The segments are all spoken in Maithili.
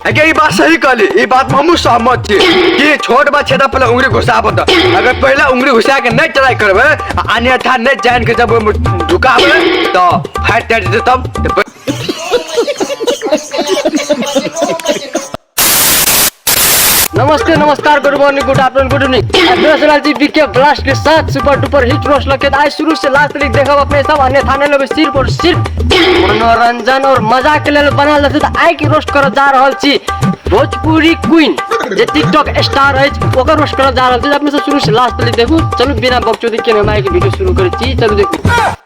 अगे ई बात सही कहली ई बात में हमहू सहमत छी कि छोट बा छेदा पहले उंगली घुसा बता अगर पहले उंगली घुसा के नहीं ट्राई करबे आ अन्यथा नहीं जान के जब ओहिमे ढुकाबे तो फाइट कर देते तब नमस्ते नमस्कार good morning good afternoon good evening address Raji BK blast के साथ सुपर डुपर हिट रोस्ट लगे आज शुरू से लास्ट तक देखो अपने सब अन्य थाने लोग सिर्फ और सिर्फ मनोरंजन और मजा के लिए बना लेते तो आई की रोस्ट कर जा रहल छी भोजपुरी क्वीन जे टिकटॉक स्टार है ओकर रोस्ट कर जा रहल छी अपने सब शुरू से लास्ट तक देखू चलू बिना बकचोदी के हम आई के वीडियो शुरू करै छी चलू देखू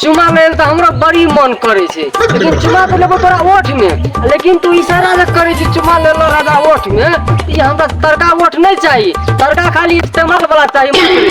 चुमा लेल तऽ हमरा बड़ी मन करे छै लेकिन चुमा तऽ लेबो तोरा ओठ में लेकिन तू इशारा जे करे छी चुमा लेलो राजा ओठ में ई हमरा तड़का ओठ नहीं चाहिए तड़का खाली इस्तेमाल वाला चाहिए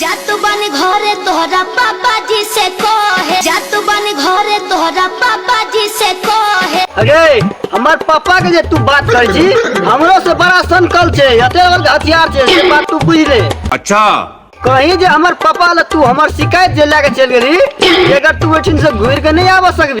जात बन घरे तोहरा पापा जी से कहे जात बन घरे तोहरा पापा जी से कहे अरे हमार पापा के जे तू बात कर छी हमरो से बड़ा संकल छे हते बड़ हथियार छे से बात तू बुझ ले अच्छा कहीं जे हमर पापा ल तू हमर शिकायत जे लेके चल गेली अगर तू एठिन से घूर के नहीं आवा सकबी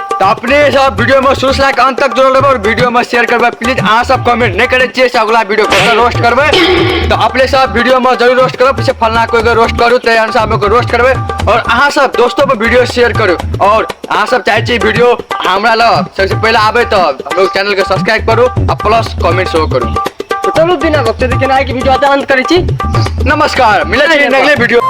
तऽ अपने सब वीडियो में सोच लाइक अंत तक जोड़ल रहबै और वीडियो में शेयर करबै प्लीज अहाँ सब कमेंट नहीं करे छियै से अगला वीडियो कतऽ रोस्ट करबै तऽ अपने सब वीडियो में जरूर रोस्ट करब पीछे फलना कोई के रोस्ट करू तै अनुसार हम ओकर रोस्ट करबै और अहाँ सब दोस्तों पर वीडियो शेयर करू और अहाँ सब चाहै छियै वीडियो हमरा लऽ सबसे पहले आबै तऽ हम लोग चैनल के सब्सक्राइब करू आ प्लस कमेंट सेहो करू तऽ चलू बिना गपते देखिए ना कि वीडियो आते अंत करै छी नमस्कार मिलै छी अगले वीडियो